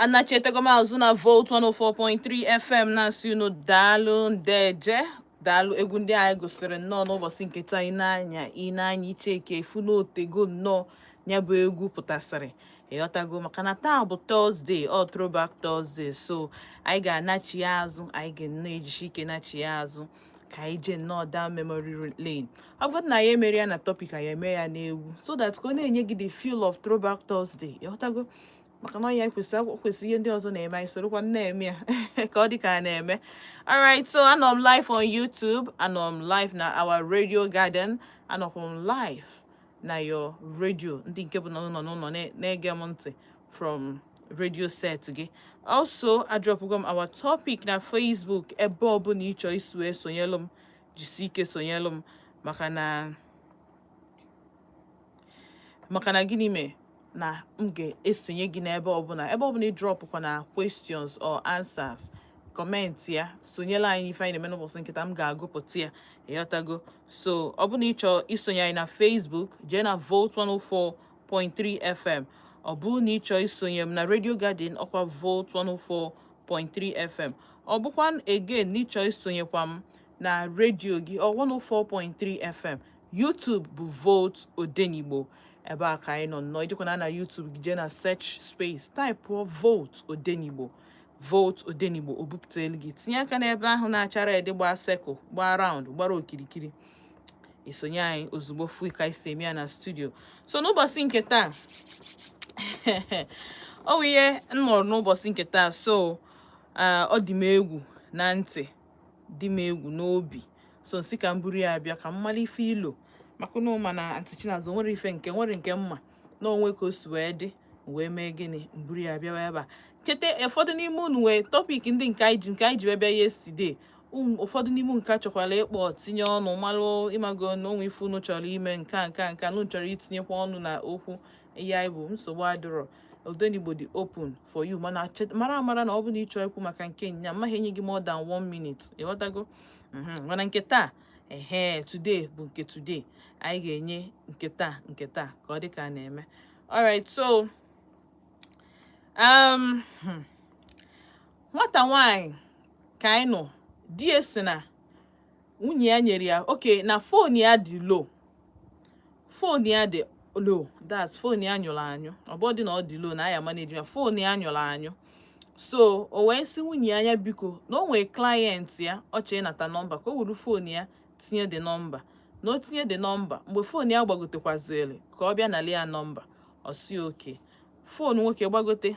anachitego m azụ na volt 104.3 fm na-asị unu daalụ ndeje daalụ egwu ndị anyị gosiri nnọọ n'ụbọchị nke taa ị na-anụ ya i cheke ị fụ n'otego nnọọ ya bụ egwu pụtasịrị ịghọtago maka na taa bụ thursday ọ throwback thursday so anyị ga-anachi ya azụ anyị ga-ejisi ike nachi ya azụ ka anyị jee nnọọ down memory lane ọ bụrụ na anyị emerọ ya na topic anyị eme ya n'egwu so that ka ọ na-enye gị the feel of throwback Thursday ịghọtago maka na ọ nya kwesị kwesị ihe ndị ọzọ na-eme anyị sorokwa na-eme ya ka ọ dị ka a na-eme alright so anọ m live on YouTube anọ m live na our radio garden anọkwa m live na your radio ndị nke bụ na unu nọ n'ụlọ na-ege m ntị from radio set gị also adrọpụgo m our topic na Facebook ebe ọbụla ịchọ isi esonyelụ m jisi ike sonyelụ m maka na maka na gịnị mee na m ga-esonye gị n'ebe ọbụla ebe ọbụla ịdrọpụkwa na questions or answers comment ya sonyelụ anyị n'ife anyị na-eme n'ụbọchị nke taa m ga-agụpụta ya ịghọtago so ọ bụrụ na ị chọọ isonye anyị na Facebook jee na Volt 104 104.3 FM ọ bụrụ na ị chọọ isonye m na Radio Garden ọkwa Volt 104.3 FM ọ bụkwa again na ịchọọ isonyekwa m na radio gị ọ 104.3 FM YouTube bụ Volt Odenigbo ebe a ka anyị nọ nnọọ i jekwanụ na YouTube gị jee na search space type Volt Odenigbo Volt Odenigbo o bupụtara gị tinye aka n'ebe ahụ na-acha red gbaa circle gbaa round gbara okirikiri i sonye anyị ozugbo fụ ka anyị si eme ya na studio so n'ụbọchị nke taa ọ bụ ihe m nụrụ n'ụbọchị nke taa so ọ dị m egwu na ntị dị m egwu n'obi so nsị ka m buru ya abịa ka m mara ife i lo maka na m ma na aunty Chinazọ nwere ife nke nwere nke m ma na o nwe ka o si wee dị wee mee gịnị mburu ya bịawa ebe a cheta ụfọdụ n'ime unu wee topic ndị nke anyị ji nke anyị ji wee bịa yesterday ụfọdụ n'ime unu ka chọkwara ịkpọ tinye ọnụ malụ ịmago na o nwe ife unu chọrọ ime nke a nke a nke a unu chọrọ itinyekwa ọnụ na okwu ya bụ nsogbu adịrọ odenigbo dị open for you mana mara amara na ọ bụ na ịchọ ikwu maka nke nyaa amaghị enye gị more than one minute ịghọtago mhm. mana nke taa ehe today bụ nke today anyị ga-enye nke taa nke taa ka ọ dị ka a na-eme alright so um hmm. nwata nwaanyị ka anyị nụ di ya si na nwunye ya nyere ya okay na fon ya dị low fon ya dị low that fon ya nyụrụ anyụ ọ bụrọ dị na ọ dị low na a ya maneji ya fon ya nyụrụ anyụ so o wee sị nwunye ya nya biko na o nwee client ya ọ chọọ ịnata nọmba ka o wuru fon ya tinye the nọmba na o tinye the nọmba mgbe fon ya gbagotekwaziri ka ọ bịa nali ya nọmba ọ sị okay fon nwoke gbagote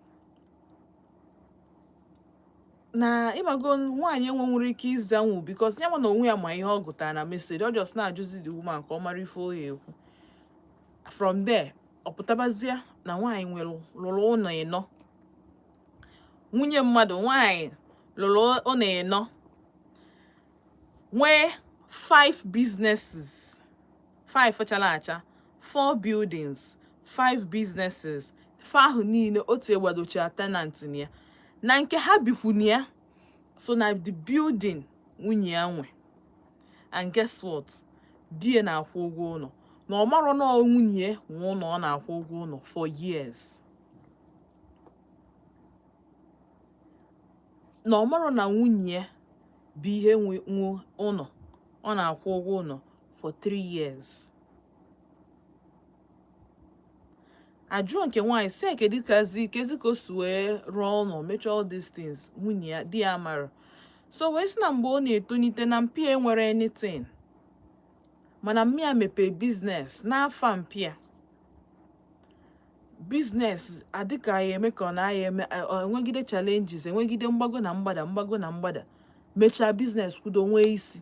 na ịmago nwaanyị enwe nwere ike ịzanwu because ya na onwe ya ma ihe ọ gụtara na message ọ just na-ajụzi the woman ka ọ mara ife ọ ya-ekwu from there ọ pụtabazie na nwaanyị nwere lụrụ ụlọ ịnọ nwunye mmadụ nwaanyị lụrụ ụlọ ịnọ nwee five businesses five chala acha four buildings five businesses fa ahụ niile o tigbadochara tenant na ya na nke ha bikwu na ya so na the building nwunye ya nwe and guess what di ya na-akwụ ụgwọ ụlọ na ọ marọ na nwunye nwe ụlọ ọ na-akwụ ụgwọ ụlọ for years na ọ marọ na nwunye bụ ihe nwe ụlọ ọ na-akwụ ụgwọ ụlọ for three years ajụọ nke nwaanyị sị kedụkwazi kezi ka o si wee rụọ ụlọ mechaa all these things nwunye ya di ya mara so wee sị na mgbe ọ na-etonite na mpịa enwerọ anything mana mmịa mepee business n'afa mpịa business adịka ya eme ka ọ na ya eme enwegide challenges enwegide mgbago na mgbada mgbago na mgbada mechaa business kwudo nwee isi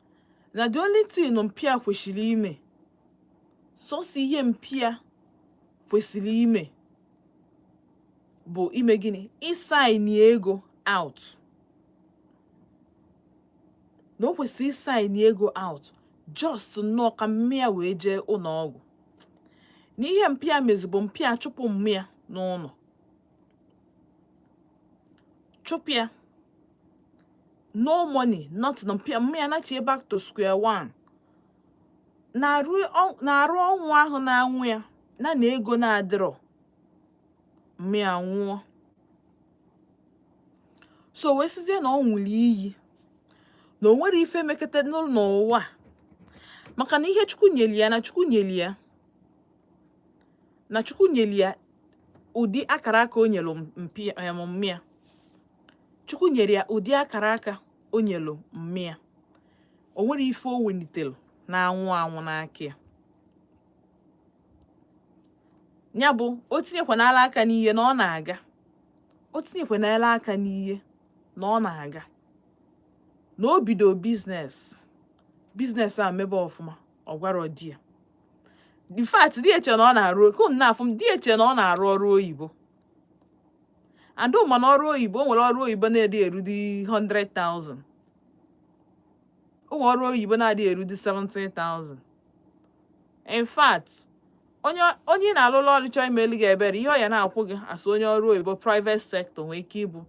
na the only thing mpịa kwesịrị ime sọsọ ihe mpịa kwesịrị ime bụ ime gịnị ịsaini ego out na o kwesịrị ịsaini ego out just nnọọ ka mmịa wee jee ụlọ ọgwụ na ihe mpịa mezi bụ mpịa chụpụ mmịa n'ụlọ chụpụ ya no money nothing mpịa mmịa nachi back to square one na arụ ọnwụ ahụ na-anwụ ya na na ego na-adịrọ mmịa nwụọ so wee sizie na ọ ṅụrụ iyi na o nwerọ ife mekata n'ụwa maka na ihe chukwu nyeli ya na chukwu nyeli ya na chukwu nyere ya ụdị akara aka o nyelu mmịa chukwu nyere ya ụdị akara aka o nyelu mmịa o nwerọ ife o welitere na-anwụ anwụ n'aka ya ya bụ o tinyekwanala aka n'ihe na ọ na-aga o tinyekwanala aka n'ihe na ọ na-aga na o bido business business a mebe ọfụma ọ gwarọ di ya in fact di eche na ọ na-arụ oke unu na-afụ m di eche na ọ na-arụ ọrụ oyibo and mana ọrụ oyibo o nwere ọrụ oyibo na-adị erudi 100,000 o nwere ọrụ oyibo na-adị erudi 70,000 in fact onye onye ị na-alụlụ ọrụ chọọ imeli gị ebere ihe ọ ya na-akwụ gị as onye ọrụ oyibo private sector nwee ike ịbụ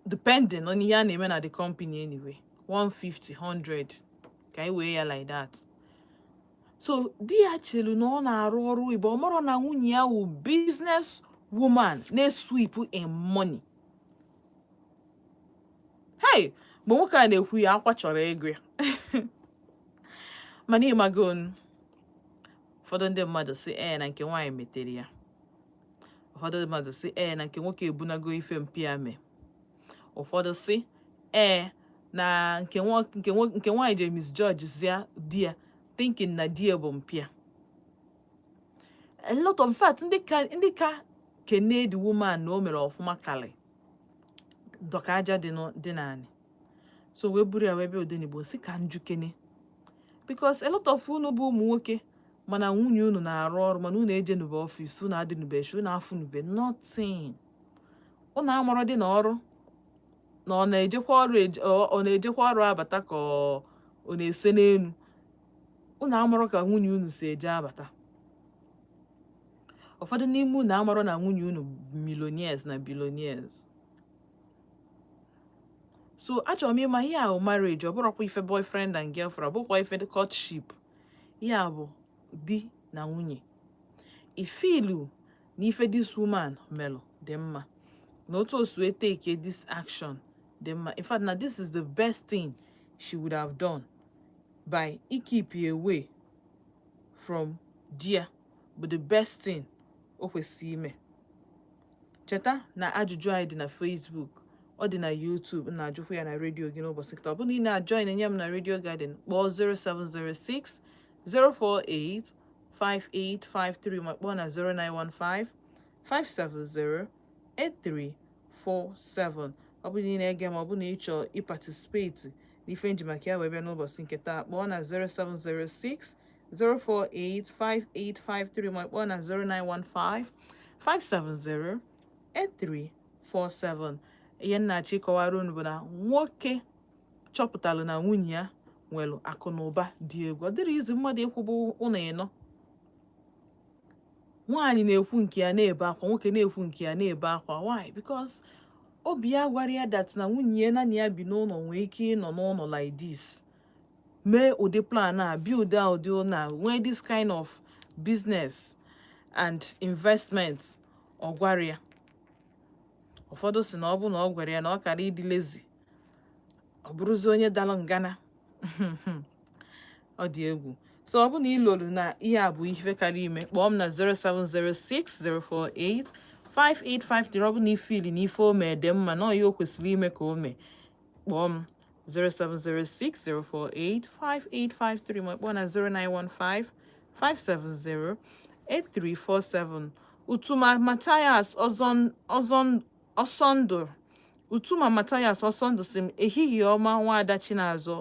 depending on ihe a na-eme na the company anyway 150 100 ka anyị wee ya like that so di ya chelu na ọ na-arụ ọrụ oyibo ọ marọ na nwunye ya wụ business woman na-esweep in money hey mgbe nwoke a na-ekwu ya akwa chọrọ ịgba m mana ị mago ụfọdụ ndị mmadụ sị ee eh, na nke nwaanyị metere ya ụfọdụ mmadụ sị ee na nke nwoke ebunago ife mpịa mee ụfọdụ sị ee na nke nwaanyị ji misjudgezia di ya thinking na di ya bụ mpịa a lot of in fact ndị ka ndị ka kene the woman na o mere ọfụma karị dọka aja dị n'anị so wee buru ya wee bịa Odenigbo sị ka m jụkene because a lot of unu bụ ụmụ nwoke mana nwunye unu na-arụ ọrụ mana unu ejenube ọfịs unu adịnube shi unu afụnube nothing unu amarọdị na ọrụ na ọ na-ejekwa ọrụ ọ na-ejekwa ọrụ abata ka ọ na-ese n'elu unu amarọ ka nwunye unu si eje abata ụfọdụ n'ime unu amarọ na nwunye unu millionaires na billionaires so achọrọ m ịma ihe a bụ marriage ọ bụrọkwa ife boyfriend and girlfriend ọ bụrọkwa ife courtship ihe a bụ di na nwunye i feelu na ife this woman melụ dị mma na otu o si wee take this action dị mma in fact na this is the best thing she would have done by ịkeep away from di ya bụ the best thing o kwesịrị ime cheta na ajụjụ anyị dị na Facebook ọ dị na YouTube m na-ajụkwa ya na redio gị n'ụbọchị taa ọ bụrụ na ị na-ajoin enye m na Radio Garden kpọọ 0706 048 5853 ma kpọọ na 0915 570 8347 ọ bụrụ na ị na-ege m ọ bụrụ na ị chọọ ịparticipate n'ife m ji maka ya wee bịa n'ụbọchị nke taa kpọọ na 0706 0485853 ma kpọọ na 0915 570 8347 ihe m na-achọ ịkọwara unu bụ na nwoke chọpụtara na nwunye ya nwere akụ na ụba dị egwu ọ dịrị easy mmadụ ịkwụbụ ụlọ ịnọ nwaanyị na-ekwu nke ya na-ebe akwa nwoke na-ekwu nke ya na-ebe akwa why because obi ya gwara ya that na nwunye ya na ya bi n'ụlọ nwee ike ịnọ n'ụlọ like mee ụdị plan a build ụdị ụlọ a nwee this kind of business and investment ọ gwarọ ya ụfọdụ sị na ọ bụ na ọ gwara ya na ọ kara ịdị lazy ọ bụrụzi onye dara ngana ọ dị egwu so ọ bụ na i lolu na ihe a bụ ife kara ime kpọọ m na 07060485853 ọ bụ na i feeli na ife o mere dị mma na ọ ya o kwesịrị ime ka o mee kpọọ m 07060485853 ma kpọọ na 09155708347 Utuma Mathias Ọsọndụ Utuma Mathias Ọsọndụ sị m ehihie ọma nwaada Chinazọ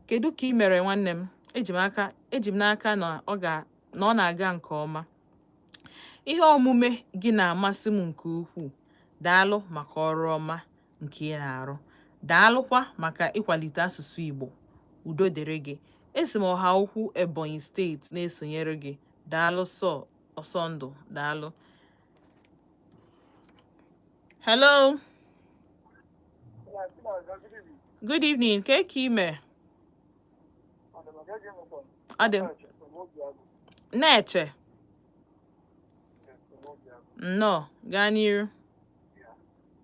kedu ka ị mere nwanne m eji m aka eji m n'aka na ọ ga na ọ na-aga nke ọma ihe omume gị na-amasị m nke ukwuu daalụ maka ọrụ ọma nke ị na-arụ daalụkwa maka ịkwalite asụsụ Igbo udo dịrị gị esi m Ohaukwu Ebonyi steeti na-esonyere gị daalụ sọ Ọsọndụ daalụ hello good evening kee ka ị me adị na-eche nnọọ gaa n'iru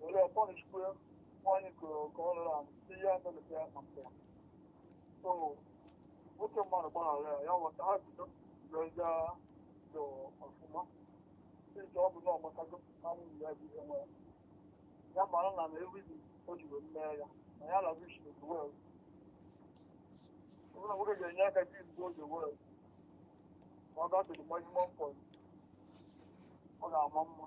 were ya pọnishkwe nwaanyị kụrụ ka ọ rụrụ ahụ si ya melụta ya maka ya so nwoke mmadụ gbaghara ya ya ghọta ha bido reza dị ọfụma ije ọ bụ na ọgbatago na nwunye ya bụ ihe nwe ya ya mara na na ewidi o ji wee mee ya na ya lagu shi the world ọbụna nwoke ga-enye aka gị mgbe oge world ma ọ gatụrụ maximum point ọ ga-ama mma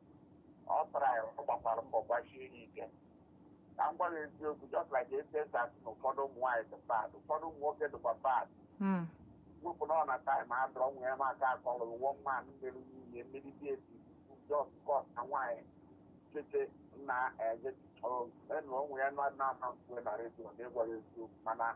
ọ tara ya ọ gbakwara mbọ gbachie ya ike ka m gwa gị eziokwu just like etu e si asị na ụfọdụ ụmụ nwaanyị dị bad ụfọdụ ụmụ nwoke dịkwa bad Mm. wepụ na ọ na time adịrọ nwa ya m ka akọrọ wọ mma mmiri nwunye mere di esi just cos na nwaanyị chete na eje enụrụ onwe ya na na ama mkpue na redio na ịgwara eziokwu mana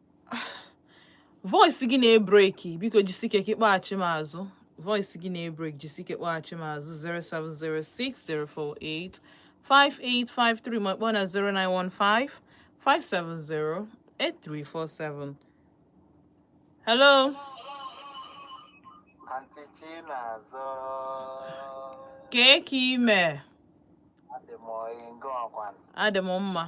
voice gị na-ebreki biko jisike ka ị kpọghachi m azụ voice gị na-ebreki jisike kpọghachi m azụ 07060485853 ma kpọọ na 09155708347 hello Auntie Chinazọ. Kee ka i mee? Adị m ọyị nke gị kwanụ. Adị m mma.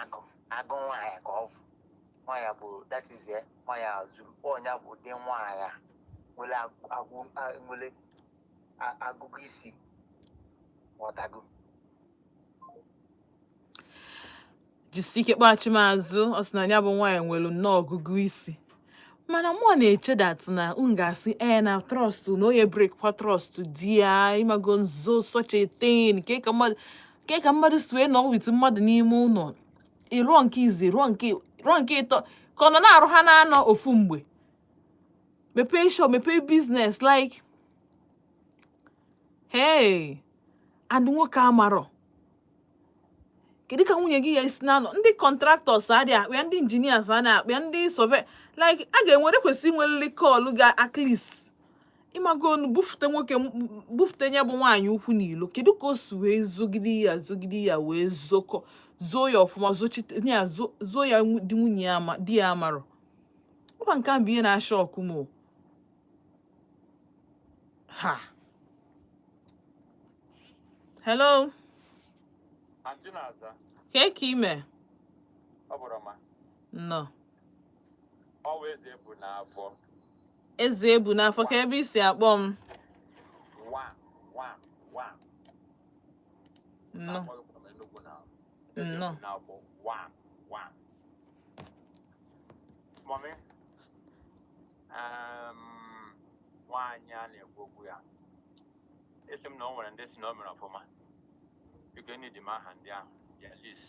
agụ agụ nwaanyị ka ọ bụ nwaanyị bụ that is ya nwaanyị a zuru nya bụ ụdị nwaanyị a nwere agụ- agụ a- nwere a- agụgụ isi ọ dago jisi ike kpọghachi m azụ ọ sị na ya bụ nwaanyị nwere nnọọ ọgụgụ isi mana mụ na-eche that na m ga-asị ee na trust na onye break kwa trust di ya ị mago izo such a thing kee ka mmadụ kee ka mmadụ si wee nọ with mmadụ n'ime ụlọ ị rụọ nke izizi rụọ nke rụọ nke ịtọ ka ọ nọ na-arụ ha n'anọ ofu mgbe mepee shop mepee business like hey and nwoke amarọ kedu ka nwunye gị ya-esi na-anọ ndị contractors adị akpọ ya ndị engineers adị akpọ ya ndị survey like a ga-enwere kwesị inwelili call ga at least ị mago nụ bufute nwoke bufute ya bụ nwaanyị ụkwụ n'ilo kedu ka o si wee zogide ya zogide ya wee zokọ zoo ya ọfụma zochite ya zoo ya di nwunye ya ama di ya amarọ ọ kwa nke a bụ ihe na-ashọkụ m ha hello ka i mee nnọọ Ezeebunafọ kee ebe i si akpọ m Mommy, um, nwaanyị a na-ekwu okwu ya ị sị m na o nwere ndị sị na o mere ọfụma biko nyedị m aha ndị ahụ ya list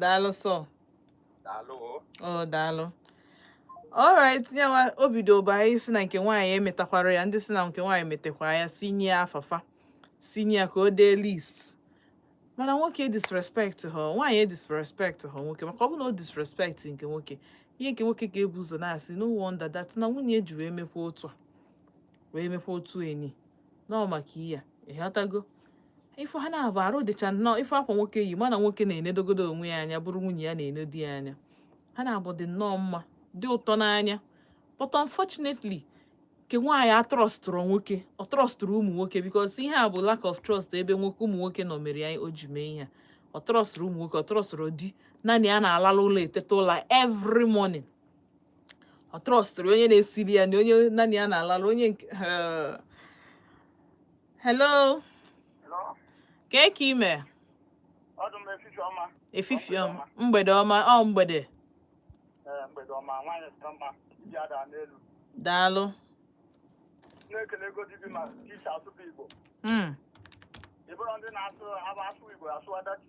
daalụ sọ daalụ ọ daalụ alright nyawa o bidoba anyị sị na nke nwaanyị emetakwara ya ndị sị na nke nwaanyị metakwa ya sị nye ya afa fa sị nye ya ka o dee list mana nwoke disrespect ha nwaanyị e disrespect ha nwoke maka ọ bụ na o disrespect nke nwoke ihe nke nwoke ga-ebu ụzọ na-asị no wonder that na nwunye ji wee mekwa otu a wee mekwa otu enyi nọọ maka ihe a ịghọtago ife ha na-abụ arụ dịcha nnọọ ife akwa nwoke yi mana nwoke na-enedogodo onwe ya anya bụrụ nwunye ya na-ene di ya anya ha na-abụ dị nnọọ mma dị ụtọ n'anya but unfortunately nke nwaanyị atrọstụrọ nwoke ọ trọstụrọ ụmụ nwoke because ihe a bụ lack of trust ebe nwoke ụmụ nwoke nọ mere ya o ji mee ihe ọ trọstụrọ ụmụ nwoke ọ trọstụrọ di ya na ya na-alalụ ụla eteta ụla every morning ọ trọstụrọ onye na-esiri ya nni onye ya na ya na-alalụ onye nke hello kee ka i mee efifie ọma mgbede ọma ọ mgbede daalụ na-ekele ego dibi ma ịsụ asụsụ Igbo hmm. ịbụrụ ndị na-asụ asụsụ Igbo asụwa dachi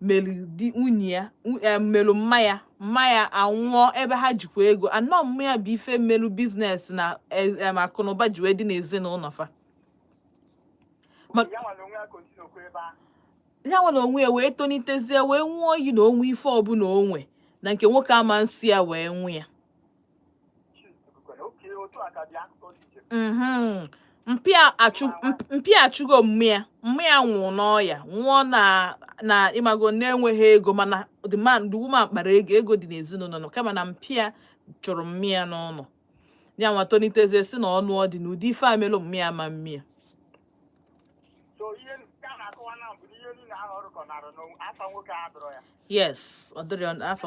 mere di nwunye ya e, mere mma ya mma ya anwụọ ebe ha jikwa ego na ọ mma ya bụ ife melụ biznes na e, e, akụnụba ji wee dị n'ezinụlọ fa ya nwa n'onwe ya wee tonitezie wee ṅụọ iyi na o nwee ife ọbụla o nwe na nke nwoke ama nso ya wee nwe ya mhm. mpa ya achụgo mma ya mma ya nwụrụ n'ọya nwụọ na na ịmago na enweghị ego mana the man the woman kpara ego ego dị n'ezinụnọ kama na mpa ya chụrụ mma ya n'ụlọ ya nwa tolitezie sị na ọ nụọ di na ụdị ife a melụ mma ya ama mme ya yes ọ dịrị afọ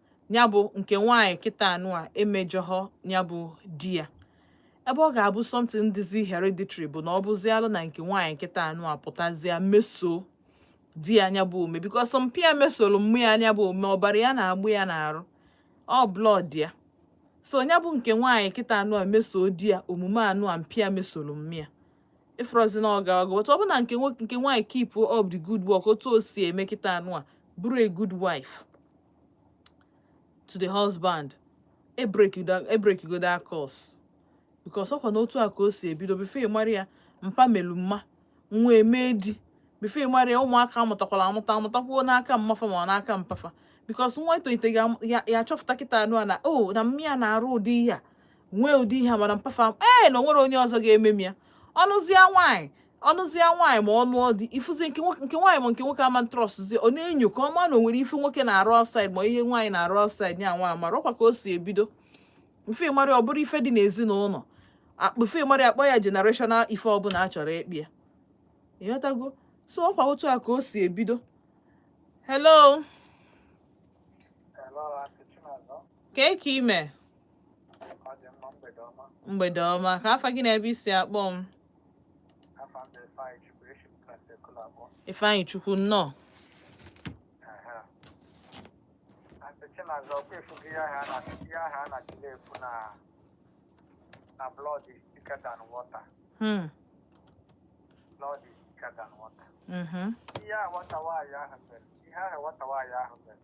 ya bụ nke nwaanyị kịta nụwa emejọghọ ya bụ di ya ebe ọ ga-abụ something dịzi hereditary bụ na ọ bụzialụ na nke nwaanyị kịta nụwa pụtazie meso di ya nya bụ ome because mpa ya mesoro mma ya nya bụ ome ọbara ya na-agba ya n'arụ ọ blood ya so ya bụ nke nwaanyị kịta nụwa meso di ya omume anụwa mpa ya mesoro mma ya ị fụrọzi na ọ ga-aga ọ bụrụ na nke nwaanyị keep up the good work otu o si eme kịta nụwa bụrụ a good wife to the husband e breakigo that curse because ọkwa na otu a ka o si ebido before ị mara ya mpa melu mma nwa emee di before ị mara ya ụmụaka amụtakwala amụta amụtakwuo n'aka mma fa ma n'aka mpa fa because nwa etolite ya achọpụta kịta nụwa na o oh, na mma ya na-arụ ụdị ihe a nwee ụdị ihe a mere mpa fa ee na o nwerọ onye ọzọ ga-eme m ya ọ nụzie nwaanyị ọ nụzie nwaanyị ma ọ nụọ di ị fụzi nke nwaanyị ma nke nwoke ama ntrọstụzi ọ na-enyo ka ọ ma na o nwere ife nwoke na-arụ outside ma ihe nwaanyị na-arụ outside ya nwa amara ọkwa ka o si ebido before ị mara ọ bụrụ ife dị n'ezinụlọ before ị mara a kpọọ ya generational ife ọbụla a chọrọ ịkpọ ya ịghọtago so ọkwa otu a ka o si ebido hello kee ka i mee mgbede ọma kee afa gị na ebe i si akpọ m Ifeanyịchukwu nnọọ hmm. ihe ahụ nwata nwaanyị ahụ mere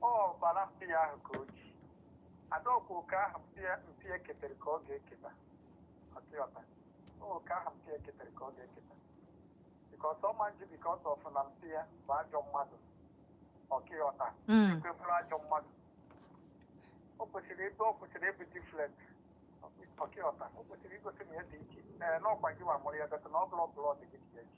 ọbara mpa ya ahụ ka o ji ada ọkwa oke ahụ mpa ya- mpa ya ketere ka ọ ga-eketa ọkwa ị ghọta oke ahụ mpa ya ketere ka ọ ga-eketa because ọ ma nji because ọ fụ na mpa ya bụ ajọ mmadụ ọkwa ị ghọta Mm. ekwe bụrụ ajọ mmadụ o kwesịrị ebe ọ kwesịrị ịbụ different ọkwa ị ghọta o kwesịrị igosi na ya dị iche ee n'ọkwa gị ma mụrụ ya dọta na ọ bụrụ ọbụla ọ dị gị dị ya iche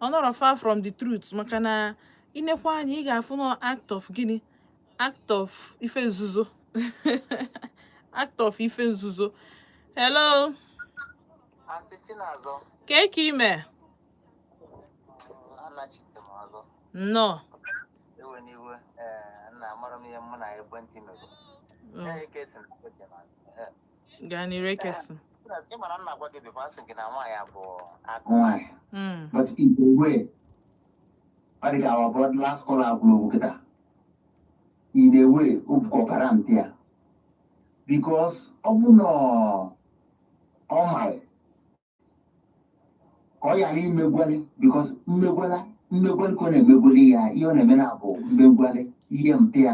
ọ nọrọ far from the truth maka na i nekwa anya ị ga-afụ na act of gịnị act of ife nzuzo act of ife nzuzo hello kee ka i me nnọọ gaa n'iru i kwesị ịmara nna gwa gị before a sị gị na nwaanyị a bụ agụ nwaanyị Mm, but in a way ọ dị ka ihe a bụ the last call agwụrụ okwu kịta in a way ọ bụkwa ọbara mpa ya because ọ bụ na ọ- ọ mara ka ọ ghara imegwali because mmegwala mmegwali ka ọ na-emegwali ya ihe ọ na-eme na bụ mmegwali ihe mpa ya